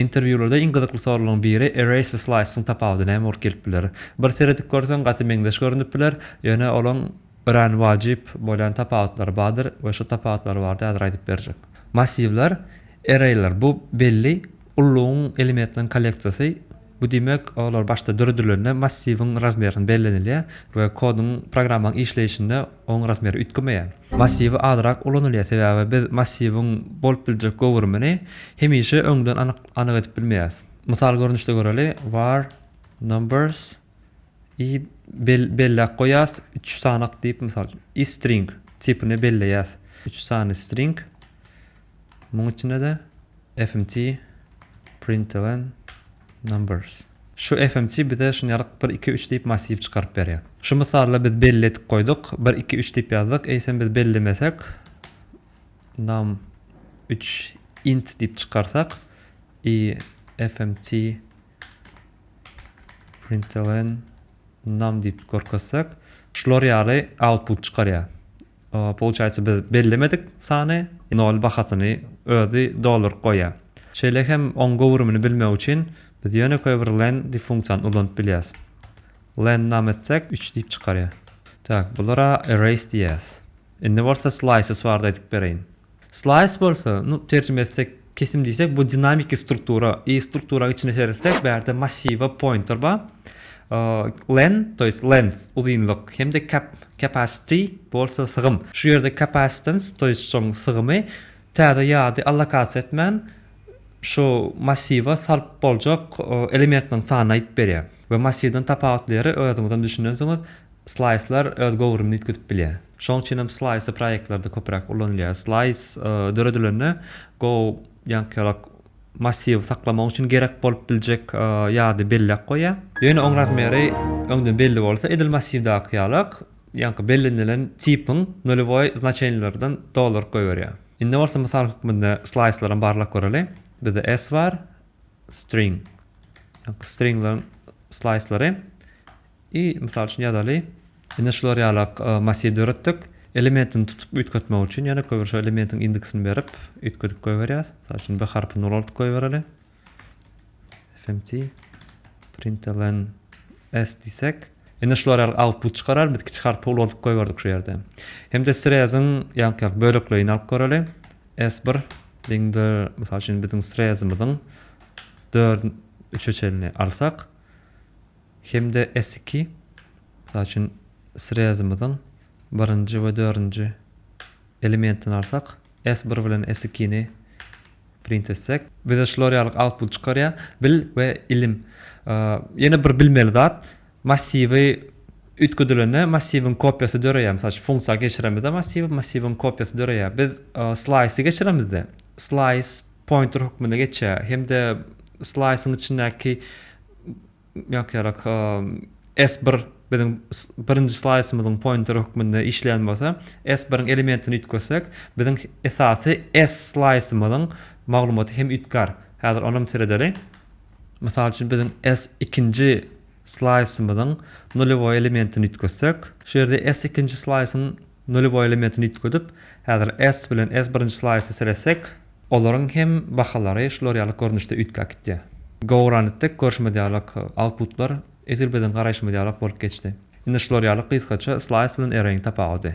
Interwýularda iň gyzykly soralyň biri Erase we Slice-yň tapawudy näme bolup gelip biler? Bir seredip görseň gaty meňzeş görünip biler, ýöne olaň örän wajyp bolýan tapawutlary bardyr we şu tapawutlary bardy häzir aýdyp berjek. Massiwler, Erraýlar bu belli ullugyň elementleriň kolleksiýasy, bu diýmek olar başda döredilende massiwiň razmerini bellenilýär we kodyň programmaň işleýşinde Oň razmeri üýtgemeýär. Massiwi azrak ulanylýar, sebäbi biz massiwiň bolup biljek göwrümini hemişe öňden anyk anyk edip bilmeýäs. Mysal görnüşde göreli, var numbers i bel belläp goýýas, üç sanak diýip, mysal, i string tipini belleýäs, üç sany string, Munuň içinde-de fmt println numbers. Şu fmt bize şunýalyk bir, iki, üç diýip massiw çykaryp berýär. Şu mysalda biz belli edip goýduk, bir, iki, üç diýip ýazdyk, eýsem biz bellemesek, num üç int diýip çykarsak, i fmt println num diýip görkezsek, şular ýaly output çykarýar. Pouçaýsa biz bellemedik sany nol bahasyny özi dolduryp goýýar. Şeýle hem oň göwrümini bilmek üçin biz ýönekeý bir len diýip funksiýany ulanyp bilýäs. Len nam etsek üç diýip çykarýar. Tak bulara erase diýýäs. Indi bolsa slices barada aýdyp bereýin. Slice bolsa, nu, terjime etsek, kesim diýsek, bu dinamiki struktura. I struktura içine seretsek, bu ýerde massiwa pointer bar. Len, to ýest length, uzynlyk hem-de cap, capacity, bolsa sygym. Şu ýerde capacitance, to ýest şoň sygymy, täze ýady allokasiýa etmän, şu massiwa sarp boljak elementiniň sanyny aýdyp berýär. We massiwden tapawutly ýeri özüňizem düşünensiňiz, Slaýslar öz göwrümini üýtgedip bilýär. Şonuň üçin hem slaýsy proýektlerde köpräk ulanylýar. Slaýs döredilende Go ýaňkyýalak massiwy saklamak üçin gerek bolup biljek ýady belläp goýýar. Ýöne oň razmeri öňden belli bolsa, edil massiwdaky ýalak ýaňky bellenilen tipiň nulewoý znaçenilerinden dolduryp goýberýär. Indi bolsa mysal hökmünde slaýslar hem barlap göreliň. Bizde S bar, string, ýaňky stringleriň slaýslary. I mysal üçin ýazaly. Indi şular ýalak massiw döretdik. Elementini tutup üýtgetmek üçin ýene köýber şo elementiň indeksini berip üýtgedip goýberýäs. Mysal üçin B harpyny ulaldyp goýbereli. FMT println S diýsek. Indi şular ýaly output çykarar. Biz kiçi harpy ulaldyp goýberdik şu ýerde. Hem-de sreziň ýaňky bölekleýini alyp göreli. S1 deňdir mysal üçin biziň srezimiziň 4 üçe çenini alsak. hem-de S-iki, mysal üçin, srezimiziň birinji we dördünji elementini alsak, S-bir bilen S-ikini print etsek, bize şular ýaly output çykarýar, bil we ilim. Ýene bir bilmeli zat, massiwi üýtgedilende massiwiň kopiýasy döreýär, mysal üçin, funksiýa geçiremizde massiwi, massiwiň kopiýasy döreýär. Biz slaýsy geçiremizde, slaýs pointer hökmünde geçýär hem-de slaýsyň içindäki Ýok ýarak S bir biziň birinji slaýsymyzyň poýnteri hökmünde işleýän bolsa, S biriň elementini üýtgetsek, biziň esasy S slaýsymyzyň maglumaty hem üýtgär. Häzir onam seredeli. Mysal üçin biziň S ikinji slaýsymyzyň nulýowy elementini üýtgetsek, şu ýerde S ikinji slaýsyň Nullewoi elementini üýtgedip, häzir S bilen S birinji slaýsa seretsek, olaryň hem bahalary şular ýaly görnüşde üýtgäp gitýär. Go-around-dik görşümiz ýalak outputlar edil biziň garaýşymyz ýalak bolup geçdi. Indi şular ýaly gysgaça slaýs bilen array-iň tapawudy.